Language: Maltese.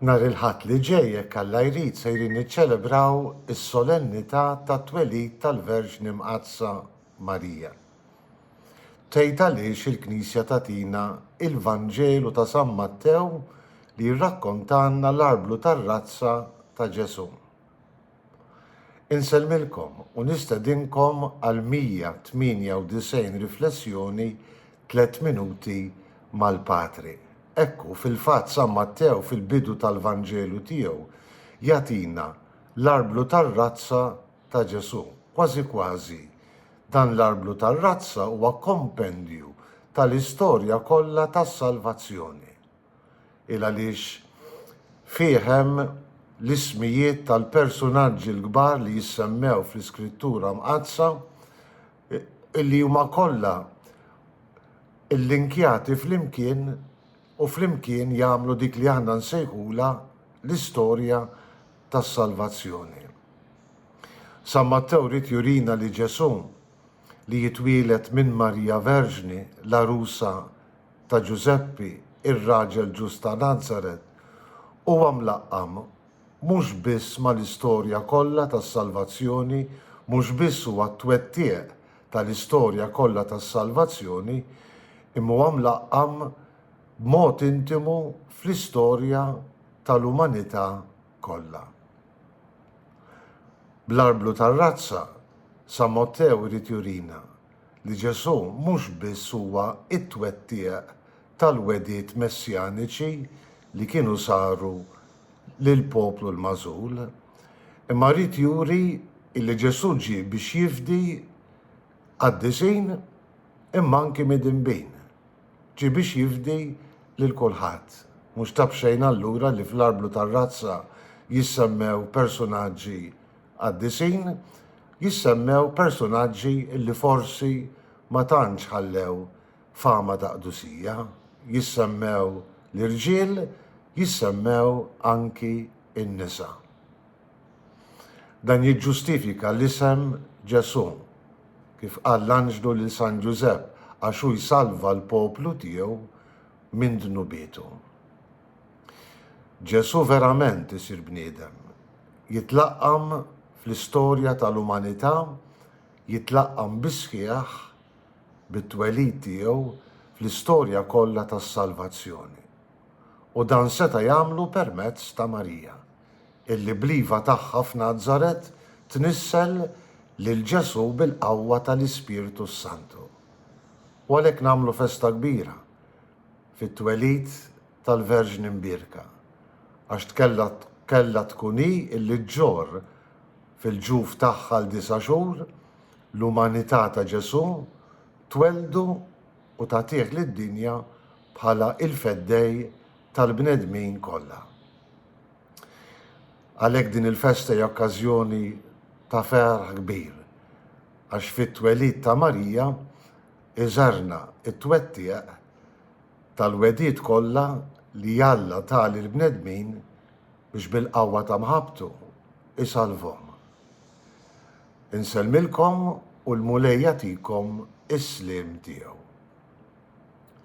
Nhar il-Ħadd li ġej, jekk Alla jrid, sejrin niċċelebraw is-Solennità tat-Twelid tal-Verġni Mqaddsa Marija. Tgħid għaliex il-Knisja tagħtina il-Vanġelu ta' San Mattew li jirrakkontalna l-arblu tar-razza ta' Ġesù. Insellmilkom u nistedinkom għal 198 riflessjoni Tliet Minuti mal-Patri. Ekku, fil-fatt San Mattew fil-bidu tal-Vanġelu tiegħu jagħtina l-arblu tar-razza ta' Ġesù. Kważi kważi, dan l-arblu tar-razza huwa kompendju tal-istorja kollha tas-salvazzjoni. il għaliex fih hemm l-ismijiet tal-persunaġġi l-kbar li jissemmew fl-Iskrittura Mqaddsa li huma kollha llinkjati flimkien u flimkien jagħmlu dik li aħna nsejħulha l-istorja tas-salvazzjoni. San Mattew ried jurina li Ġesù li jitwieled minn Marija Verġni, l-għarusa ta' Ġużeppi, ir-raġel ġust ta' Nazaret, huwa mlaqqam mhux biss mal-istorja kollha tas-salvazzjoni, mhux biss huwa t-twettiq tal-istorja kollha tas-salvazzjoni, imma huwa mlaqqam b'mod intimu fl-istorja tal-umanità kollha. Bl-arblu tar-razza, San Mottew irid jurina li Ġesù mhux biss huwa t-twettiq tal-wegħdiet messjaniċi li kienu saru lill-poplu l-magħżul, imma ried juri li Ġesù ġie biex jifdi qaddisin imma anki midinbin. Ġie biex jifdi lil kulħadd. Mhux ta' b'xejn allura li fl-arblu tar-razza jissemmew persunaġġi qaddisin jissemmew persunaġġi li forsi ma tantx ħallew fama ta' qdusija, jissemmew l-irġiel, jissemmew anki n-nisa. Dan jiġġustifika l-isem Ġesù, kif qal l-anġlu lil San Ġużepp, għax hu jsalva l-poplu tiegħu minn dnubietu. Ġesù verament isir bniedem, jitlaqqam fl-istorja tal-umanità, jitlaqqam bis-sħiħ bit-twelid tiegħu fl-istorja kollha tas-salvazzjoni. U dan seta' jagħmlu permezz ta' Marija, illi bl-iva tagħha f'Nazaret tnissel lil Ġesù bil-qawwa tal-Ispirtu s-Santu. U għalhekk nagħmlu festa kbira fit-twelid tal-Verġni Mbierka, għax tkella kellha tkun hi illi ġġorr fil-ġuf tagħha għal disa' xhur l-umanità ta' Ġesù, twelldu u tagħtih lid-dinja bħala il-Feddej tal-bnedmin kollha. Għalhekk din il-festa hija okkażjoni ta' ferħ kbir, għax fit-twelid ta' Marija iżarna t-twettiq tal-wegħdiet kollha li Alla ta lill-bnedmin biex bil-qawwa ta' mħabbtu jsalvhom. Insellmilkom u l-Mulej jagħtikom is-sliem tiegħu.